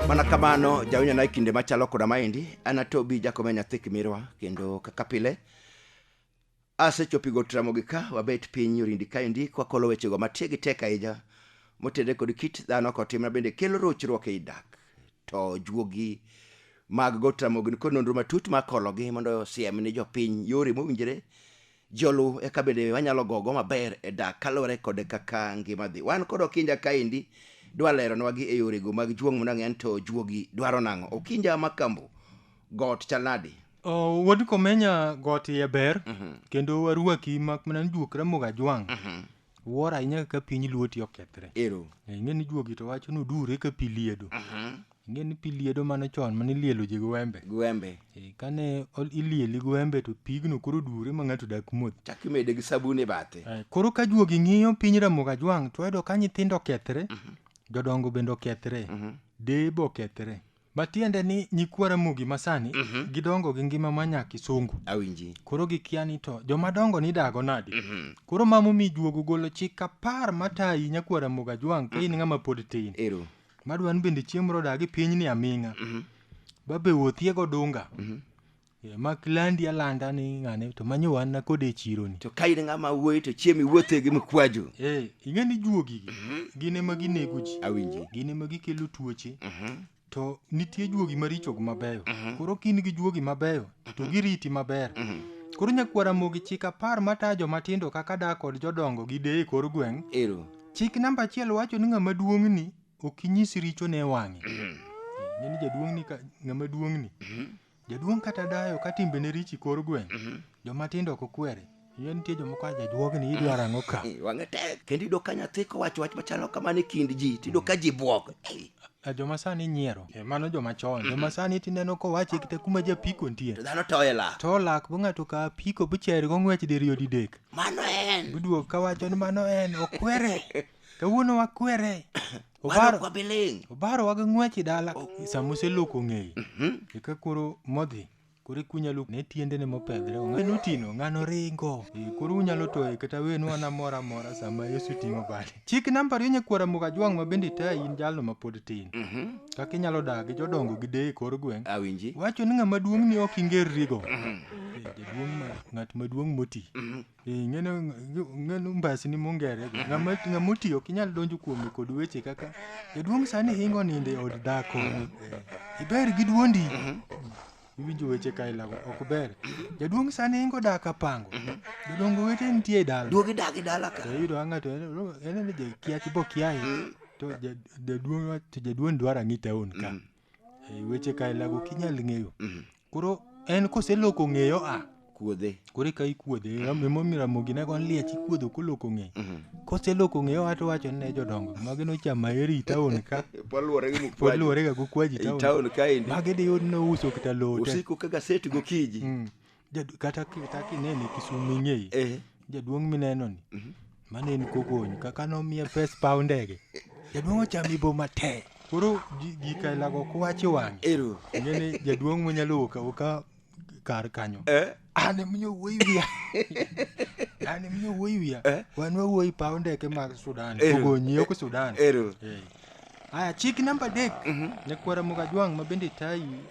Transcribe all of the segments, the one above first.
mana kamano jawinyo na e kinde machalo koda maendi an atobi jakome nyathi kimirwa kendo kaka pile asechopigo tramogi ka wabet piny orindi kaendi kwakolo wechego matie gi tek ahinya motede kod kit dhano kotimna bende kelo rochruok ei dak to juogi mag go tramogi nikod nonro matut makologi mondo osiem ni jopiny yore mowinjore Joluo eka bende wanyalo gogo maber e dak kaluwore kod kaka ngima dhi. Wan kod Okinja kaendi dwa lero nwagi e yorego mag juong' mondo ang'e to juogi dwaro nang'o. Okinja Makambo, got chal nadi? Oh, wuod komenya got iye ber kendo warwaki mak mana ni juok ramoga jwang' Wuoro ahinya kaka piny luoti okethre. Ero. Eh, Ing'e ni juogi to wacho ni odure ka pi liedo. Ing'e ni pi liedo mano chon mane ilielo ji gi wembe. Gwembe. Eh, Kane ol- ilieli gi wembe to pigno koro dure ma ng'ato dak modh. Chak imede gi sabun e bathe. Eh, Koro ka juogi ng'iyo piny Ramogi Ajwang' to wayudo ka nyithindo okethre, jodongo bende okethre, deye be okethre. Matiende ni nyikwa Ramogi masani Mhm. gidongo gi ngima ma nya kisungu. Awinji. Koro gikia ni to joma dongo ni dago nadi. Mhm. Koro mamo mi juogo golo chik apar matayi nyakwa Ramogi Ajwang' ka in ng'ama pod tin. Ero. Madwa ni bende chieng' moro odagi piny ni aming'a. Mhm. Babe wuothie godunga. Mhm. Eh, mak landi alanda ni ng'ane to manyo wan nakode e chironi to ka in ng'ama wuoyi to chiem iwuothe gi mkwaju eh, ing'e ni juogigi mhm. gin ema ginego ji awinji gin ema gikelo tuoche mhm. to nitie juogi maricho gi mabeyo mhm. koro kin gi juogi mabeyo to giriti maber koro nyakwara mogi chik apar matayo jomatindo kaka dak kod jodongo gi deye kor gweng' ero chik namba achiel wacho ni ng'ama duong'ni ok inyis richo ne wang'e ng'eni jaduong'ni ng'ama duong'ni Jaduong' kata dayo ka timbene richi kor gweng', mhm. joma tindo ok okwere. Yie nitie jomoko aja juogni idwaro ang'o ka? Eh, wang'e tek. Kendo iyudo ka nyathi kowacho wach machalo kamano e kind ji, tiyudo ka ji bwok. Eh. Eh, joma sani nyiero e, mano joma chon mm-hmm. joma sani tineno kowache kite kuma japiko nitie dhano toye lak to lak bo ng'ato ka piko bicheri go ng'wech diriyo didek mano en biduok kawacho ni mano en okwere kawuono wakwere Obaro kwa biling. Obaro waga ng'wechi dala sama oseloko ng'eyi. Eka koro modhi. Koro ikunya luk ne tiendene mopedhre. Ng'ano tino, ng'ano ringo. Eh, Koro unyalo toye kata wenu an amora amora sama Yesu ting'o bade. Chik namba ariyo nyakwara Mugajwang' ma bende itayi in jalno ma pod tin. Kaka inyalo dak gi jodongo gi deye e kor gweng'. Awinji. Wacho ni ng'ama duong' ni ok ingerrigo. Eh, Jaduong' ma ng'at maduong' moti. Eh, ng'eno ng'eno mbasi ni mongere go. Ng'ama ng'ama oti ok inyal donjo kuome kod weche kaka jaduong' sani hingo nindo e od dhako. Eh, Iber gi duondi. Iwinjo weche ka ilago ok ber. Jaduong' sani hingo dak apango. Jodongo wete nitie e dala. Duogi dagi dala ka. To iyudo ka ng'ato en en ni jakiachi bo kiaye. To ja- jaduong' wa- to jaduong' dwaro ang'i taon ka. e weche kailago kinyal ng'eyo Mhm. koro en koseloko ng'eyo a kuodhe koro eka ikuodhe emomiyo ramogi ne gon liech ikuodho koloko ng'eyo Mhm. koseloko ng'eyo ato wacho ne jodongo magi nochama eri taon ka poluwore gi pod mukwaji luworega gokwaji i taon taon kaendi magi diyud nouso kata lote usiko ka gaset gokinyi Mm. Jadu- kata ki- kata kinene kisumu ing'eyi Eh. jaduong' minenoni mane en kogony kaka nomiye pes paw ndege jaduong' ochami bo mate koro ji- gikailago kwachi wang'e Ero. ngene jaduong' monyalo wuok awuoka kar kanyo Eh. an emiyo wuoyi wiya an emiyo wuoyi wiya Eh. wan wawuoyi paw ndeke mag sudan Eh. kogonyi ok sudan Ero. Eh. Aya, chik namba adek ne kwara Mugajwang' ma bende tayi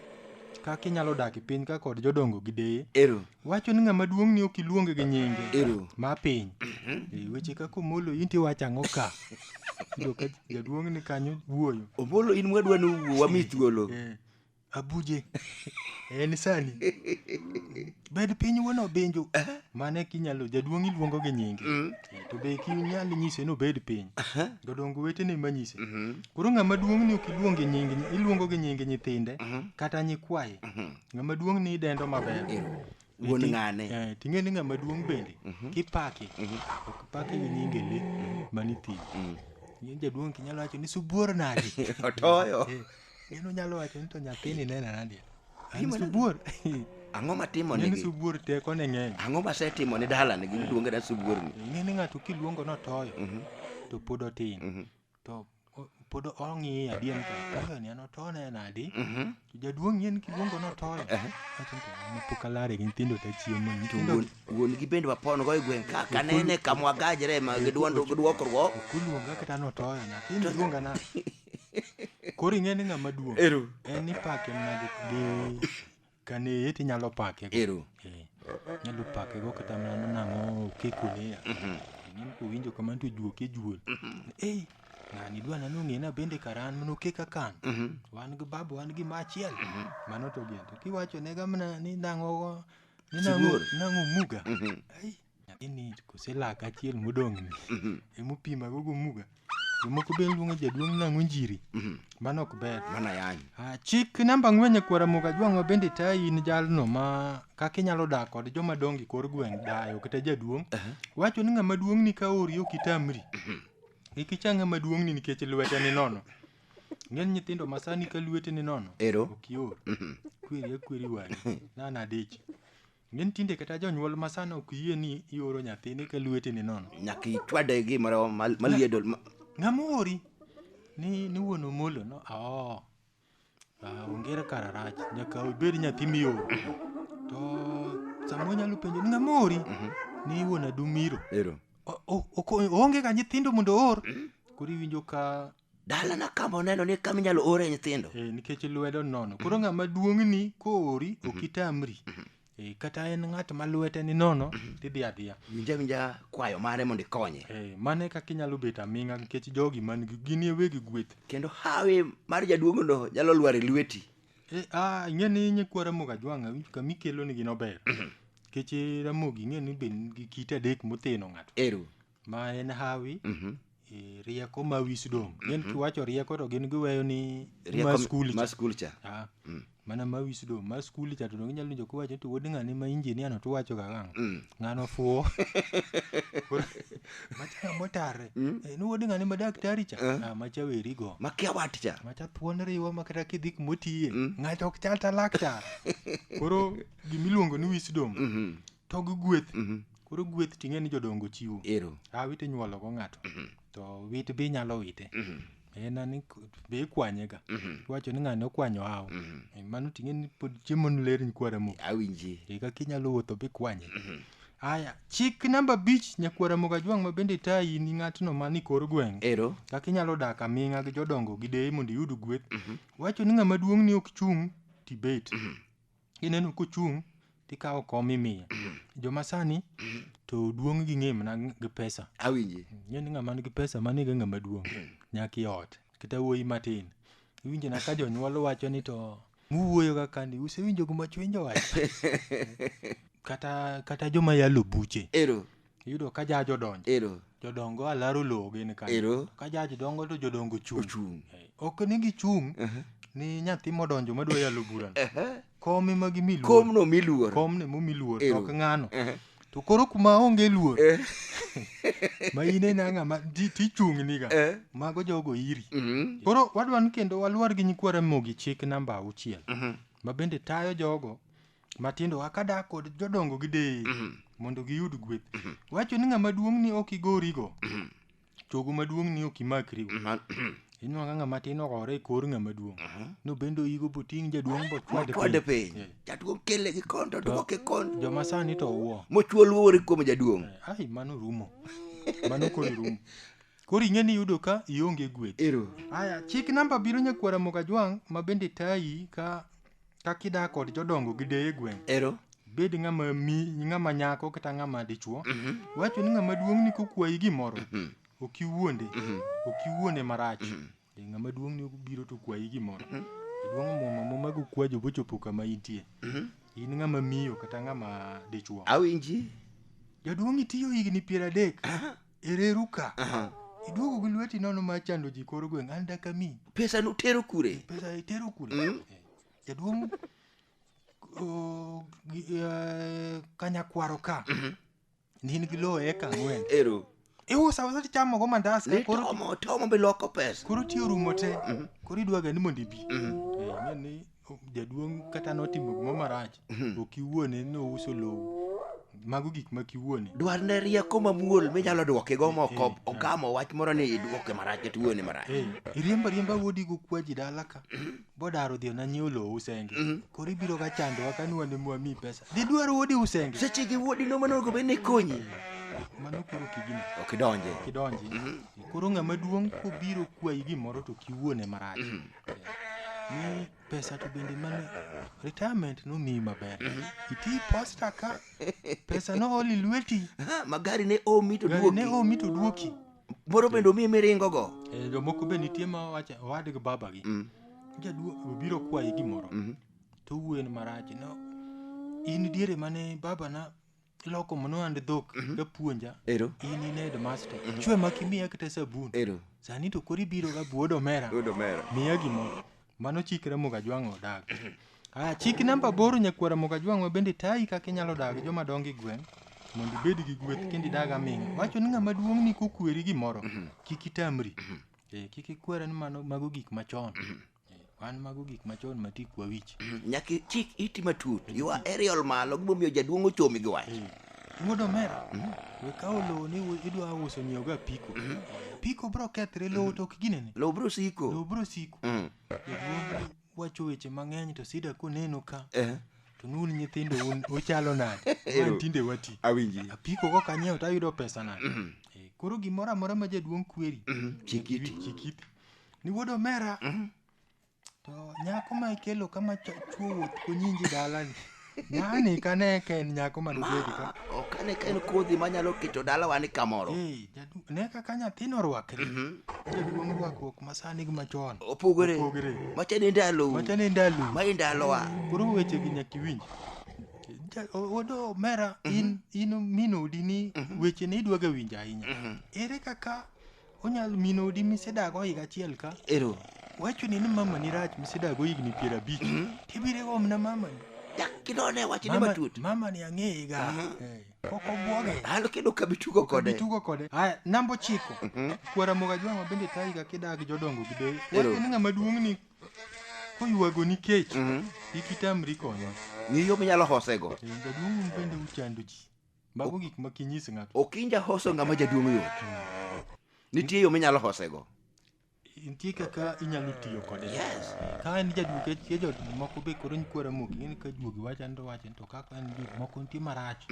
kaka inyalo dak e piny ka kod jodongo gi deye. Ero. Wacho ni ng'ama duong' ni ok iluonge gi nyinge. Ero. Ma piny. E weche kaka Omolo in tiwacho ang'o ka? Iyudo ka jaduong' ni kanyo wuoyo. Omolo in mwadwa ni uwuo wami thuolo. Eh. abuje en sani bed piny wuon obinju mane kinyalo jaduong' iluongo gi nyinge Eh, to be kinyal nyise nobed piny jodongo wetene manyise koro ng'ama duong' ni ok iluong gi nying iluongo gi nying nyithinde kata nyikwaye ng'ama duong' ni idendo maber wuon Ti- ng'ane eh, ting'e ni ng'ama duong' bende kipake ok pake gi nyinge le manithim jaduong' kinyalo wacho ni subuor nadi otoyo Gino nyalo wacho ni to nyathini nena nade? An subuor. Ang'o matimo Ng'eni nigi? subuor teko ne ng'eny. Ang'o masetimo ni dalani gi miluongo ni subuor ni? Ng'eni ng'ato kiluongo notoyo Mhm, to pod otin. mhm, To o- pod ong'iye adien to toyo ni an otone nadi? mhm. To jaduong' ng'eni kiluongo notoyo. Ehe. Wacho ni to an pok alare gi nyithindo ta chiemo. To Nyithindo wuon- wuon gi bende wapon go e gweng' ka kanene kamwagajre ma gi dwond- gi dwokruok. okuluonga kata notoyo na. In luonga na. Koro ing'e ni ng'ama duong'. Ero. En ipake mana gi gi kane eti nyalo pake. go. Ero. Eh, Nyalo pake go kata mana nang'o kekone ya. Ng'in kowinjo kamano to juoke juol. Ei, ng'ani dwa nano ng'ena bende karan mano keka kan. Wan gi babu wan gi machiel. Mano to gento. Kiwacho ne gamna ni nang'o ni nang'o Sibuor. nang'o muga. Ai, nyathini kose laka achiel modong'ni Mhm. emopima gogo muga jomoko be luonga jaduong' nang'o njiri Mhm. mano ok ber Mana yani. Ah, chik namba ang'wen e kwara muga jwang'wa bende tayi in jalno ma kaka inyalo dak kod joma dongo e kor gweng' dayo kata jaduong' Aha. wacho ni ng'ama duong' ni ka ori ok itamri kik icha ng'ama duong' ni nikech lwete ni nono ng'eny nyithindo masani ka lwete ni nono Ero. ok ior Mhm. kweri akweri wang'i nana dich Ng'eni tinde kata jonyuol ma sani ok yie ni ioro nyathini ka lweti ni nono. Nyaka ichwade gimoro mal- maliedo. ma- Ng'ama ori? Ni ni wuon Omolo no. Oo. Ah, ongere kara rach. Nyaka obed nyathi mioro. To sama onyalo penjo ni ng'ama ori? Ni wuon Adumiro. Ero. O- o- oko- Oonge ga nyithindo mondo oor. Koro iwinjo ka dalana kama oneno ni kama inyalo ore nyithindo Eh, nikech lwedo nono koro ng'ama duong'ni koori ok itamri Eh, kata en ng'at ma lwete ni nono tidhi adhiya winja winja kwayo mare mondo ikonye Eh, mano e kaka inyalo bet aming'a nikech jogi man gi- gin ewegi gweth kendo hawi mar jaduong'no nyalo lwar e lweti Eh, ah, ing'e ni nyikwa ramogi ajwang'a winj kama ikelo nigi nober nikech eh, ramogi ing'e ni be nigi kite adek motheno ng'ato eru ma en hawi Mhm. e, rieko ma wisdom gin kiwacho rieko to gin giweyo ni Rieko ma mi- skul ma cha. skul cha Ah, mana ma wisdom ma skul cha to donge nyalo winjo kiwacho to wuod ng'ani ma injinia no tuwacho ga gang Mm. ng'ano fuwo Koro, macha motare Eh, ni wuod ng'ani ma daktari cha Ah, macha weri go makia wat cha macha thuon riwo ma kata kidhi kumotiye ng'ato ok chal ta laktar koro gimiluongo ni wisdom Mhm. to gi gweth Mhm. koro gweth ting'e ni jodongo chiwo Ero. a wit inyuolo go ng'ato to wit be inyalo wite Mhm. en ani k- be ikwanye ga Mhm. iwacho ni ng'ani okwanyo awo Mhm. Eh, mano ting'e ni pod chiemo ni ler nyikwara mo Awinji. e kaka inyalo wuotho be ikwanye aya chik namba abich nyakwara mogajwang' ma bende tayi ni ng'atno ma ni kor gweng' Ero. kaka inyalo dak aming'a gi jodongo gi deye mondo iyud gweth wacho ni ng'ama duong' ni ok chung' tibet ineno kochung' tikawo kom imiye joma sani to duong' gi ng'e mana gi pesa awinji ng'e ni ng'ama nigi pesa mano ega ng'ama duong' nyaka i ot kata wuoyi matin iwinjo na ka jonyuol wacho ni to muwuoyo ga kani usewinjo gima chwenjo wacho kata kata joma yalo buche ero Iyudo ka jaj odonjo. Ero. Jodongo alaro lowo gin kanyo. Ero. Ka jaj dongo to jodongo chung'. Ochung'. Eh, Ok ni gichung' Aha. ni nyathi modonjo madwa yalo burano. Aha. Kom ema gimi luor. Komno miluor. Kom ne mumi luor to Ero. ok ng'ano. Aha. To koro kuma onge luor Eh. ma in ena ng'ama ti- tichung'ni ga. Eh. Mago jogo iri. Mhm. Koro wadwa ni kendo waluor gi nyikwa Ramogi chik namba auchiel Mhm. ma bende tayo jogo matindo wa ka dak kod jodongo gi deye mondo giyud gweth wacho ni ng'ama duong' ni ok igorigo chogo maduong' ni ok imakrigo Ma- inwang'o ka ng'ama tin ogore e kor ng'ama duong' no bende oyigo boting' jaduong' bochwade kwade piny piny jaduong' kele gi kondo duoke kondo joma sani to uwo mochuo luore kuom jaduong' ai mano rumo mano koro rumo koro ing'e ni yudo ka ionge gweth ero aya chik namba biro nyakwara mogajwang' ma bende tayi ka Kaka idak kod jodongo gi deye gweng'. Ero. Bed ng'ama mi ng'ama nyako kata ng'ama dichuo. Wacho ni ng'ama duong' ni kokwayi gimoro. Ok iwuonde. Ok iwuonde marach. E ng'ama duong' ni obiro to kwayi gimoro. Duong' muma muma go kwajo bochopo kama intie. In ng'ama miyo kata ng'ama dichuo. Awinji. Jaduong' itiyo higni piero adek. ereruka Aha. iduogo gi lweti nono ma chando ji kor gweng' an dakami pesa nutero kure pesa itero kure Eh, jaduong' o, gi- eh, kanyakwaro ka ni in gi lowo eka ang'wen ero iusa usa tichamogo mandas ka koro nitomo tomo be loko pesa koro ti orumo te koro idwaga ni mondo ibi Eh, ing'e ni jaduong' kata notimo gimoro marach to kiwuone ni ouso lowo mago gik ma kiwuone dwarne rieko mamuol minyalo dwoke go moko Eh, eh. ogamo wach moro ni idwoke marach kata iwuone marach Eh, iriemba riemba wuodi go kwaji dala ka bodaro dhiyo na nyiewo lowo usenge koro ibiro ga chandowa ka nwane mwami pesa dhi dwaro wuodi usenge seche gi wuodi no manogo bed ni konyi mano koro kigini ok idonje kidonji koro ng'ama duong' kobiro kwayi gimoro to kiwuone marach Ni pesa to bende mane retirement nomiyi maber. Iti posta ka pesa nooli lweti. Ha, magari ne omi to Gari ne duoki omi to duoki. moro bende omi miringo go Eh, Jomoko be nitie ma wacho owadgi babagi. Mm, Jaduo obiro kwayi gimoro. mhm. To wuoyen marach no. In diere mane babana loko mono and dhok kapuonja Ero. in in headmaster chwe mak imiya kata sabun Ero. sani to koro ibiro ga buod omera Buod omera. miya gimoro mano chik ramogi ajwang' odag ah chik namba aboro nyakwara mogo ajwang' ma bende tayi kaka inyalo dag joma dongo e gweng' mondo ibed gi gweth kendo idag aming'a wacho ni ng'ama duong' ni kokweri gimoro kik itamri Eh, kik ikwere ni mano mago gik machon Wan mago gik machon ma tik wawich. Nyaka ichik iti matut. You are aerial malo gimomiyo jaduong' ochomi gi wach. Wuod omera, we kawo lowo ni u- idwa uso nyiewo ga piko. Piko bro kethre, lowo to ok ginene. Lowo bro siko. Lowo bro siko. Mm. Jaduong' wacho weche mang'eny to sida koneno ka. Eh. To nun nyithindo un uchalo nade? Ero. Wan tinde wati. Awinji. Apiko kok anyiewo to ayudo pesa nade? Eh, Koro gimoro amora ma jaduong' kweri. Chikiti. Chikiti. Ni wuod omera. To nyako ma ikelo kama chuo wuoth kunyinji dalani. Ng'ani kane ka en nyako ma nobedi ka. Ok ane ka en kodhi manyalo keto dalawa ni kamoro. Ee, jadu- ne kaka nyathino orwakre. Jaduong' rwakruok ma sani gi machon. Opogore. Opogore. Macha ne ndalo. Macha ne ndalo. Ma e ndalowa. Koro weche gi nyaka iwinj. Ja- o- Wuod omera in in min odi ni weche ne idwaga winjo ahinya. Ere kaka Onyal min odi misedago higa achiel ka. Ero. Wachoni ni mamani rach misedago higni piero abich. Tibire gomna mamani. Kidone wachne Mama- matut. Mamani ang'eyega. Eh, Pok obwoge. An kendo kabi tugo kode. Bitugo kode. Aya, namba ochiko. Kwara moga jwang'o bende tayiga kidag jodongo gi deye. Ero. Wachoni ng'ama duong' ni koywago ni kech. Kik itamri konyo. Ng'i yo minyalo hosego. Jaduong' bende uchando ji. Mago gik ma kinyis ng'ato. ok inja hoso ng'ama jaduong' yot nitie yo minyalo hosego Nitie kaka inyalo tiyo kode. Yes. Ka en jaduong' ke ke jot moko be koro nyikwara mok ng'eni ka juogi wacha ndo wacha to kaka en jok moko nitie marach.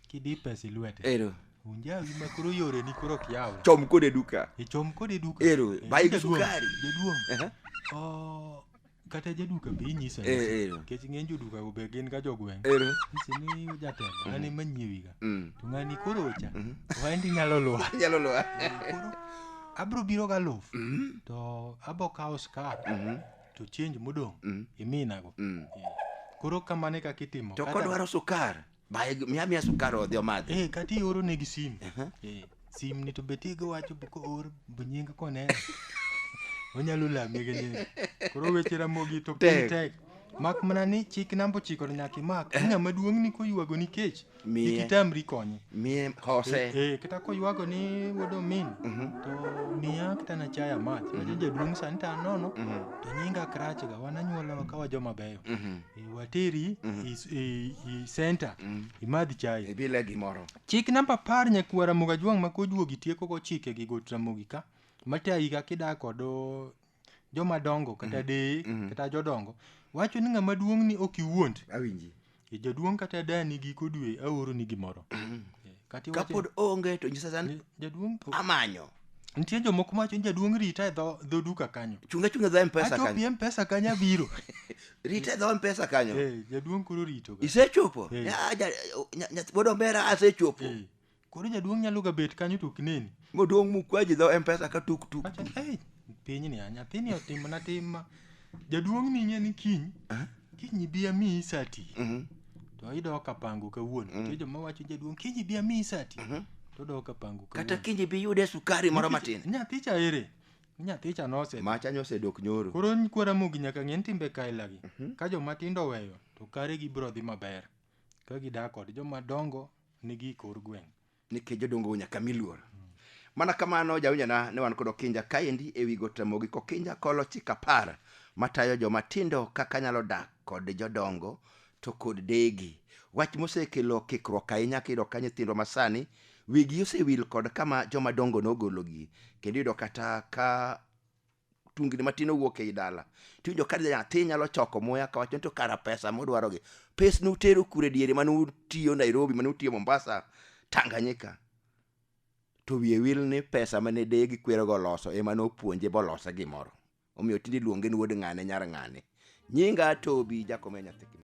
Kidi pesa e lwete. ero Unjawi ma koro yore ni koro ok yaw. chom kode duka Ichom kod e duka. Ero, Eh, bai gi jaduong', sukari. Jaduong'. Aha. Oh, kata jaduka be inyiso Eh, eh. anyisa nikech ng'eny jodukago be gin ga jogweng' Ero. nyise ni jatelo ng'ani manyiewiga Mm. to ng'ani koro ocha waendi nyalo luwa Nyalo luwa. koro abro biro ga luf Mm. to abo kawo skar Mhm. to change modong' Mm. iminago Mm. koro kamane kaka itimo To Kata- kodwaro sukar. Baye miya miya sukari odhi omadhi. Eh, kata ioro negi simu. Eh, simu ni to be tigo wacho be koor be nying koneno. Onyalo lami gi nying. Koro weche ramogi to piny Tek. tek. Mak mana ni chik namba ochiko to nyaka imak. Ni ng'ama duong' ni koywago ni kech. Miye. Kik itamri konye. Miye Eh, hose. eh, kata koywago ni wuod omin to miya kata na chaya mach wacho jaduong' sani to anono to nyinga krachga wan anyuolawa kawa joma beyo Mhm. e wateri e, s- e, e center imadh chai ibile gimoro chik namba apar nyakuo ramogi ajwang' ma kojuogi tieko go chike gi got ramogi ka matayi ka kidak kod o, jomadongo kata deye kata jodongo wacho ni ng'ama duong' ni ok iwuond awinji e jaduong' kata dani giko dwe aoro ni gimoro Kati wache- kapod onge to nyisa san jaduong' po- amanyo nitie jomoko mawacho ni jaduong' rita e dho dho duka kanyo chunga chunga dho mpesa kanyo achopi mpesa kanyo abiro rita e dho mpesa kanyo Eh, jaduong' koro rito ga. isechopo Eh. Ya, ja- nya- nya- wuod ombera asechopo Eh, koro jaduong' nyalo ga bet kanyo to ok neni moduong' mukwaji dho mpesa ka tuk tuk Wacho, "Ei, pinyni a nyathini otimna tim ma jaduong' ni ing'e ni kiny kiny ibi amiyi sati Mhm. to idok kapango kawuono nitie joma wacho jaduong' kiny ibi amiyi sati to odok kapango kata kawuono kinji bi yude sukari moro matin nyathi cha ere nyathi cha nose macha nyosedok nyoro koro kwara mogi nyaka ng'e ni timbe kailagi ka joma tindo oweyo to kare gibiro dhi maber ka gidak kod joma dongo nigi kor gweng' nikech jodongo nyaka mi luor mana kamano jawinjana ne wan kod okinja kaendi e wi got ramogi kokinja kolo chik apar matayo joma tindo kaka nyalo dak kod jodongo to kod degi wach mosekelo kikruok ahinya kiyudo ka nyithindwa masani wigi osewil kod kama joma dongo nogologi kendo iyudo kata ka tungni matin owuok ei dala tiwinjo ka nyathi nyalo choko muya kawacho ni to kara pesa mudwarogi pes nutero kure diere mane utiyo nairobi mane utiyo mombasa tanganyika to wiye wil ni pesa mane deye gi kwerogo oloso ema nopuonje bolose gimoro omiyo tinde iluonge ni wuod ng'ane nyar ng'ane nyinga tobi jakom ya nyathi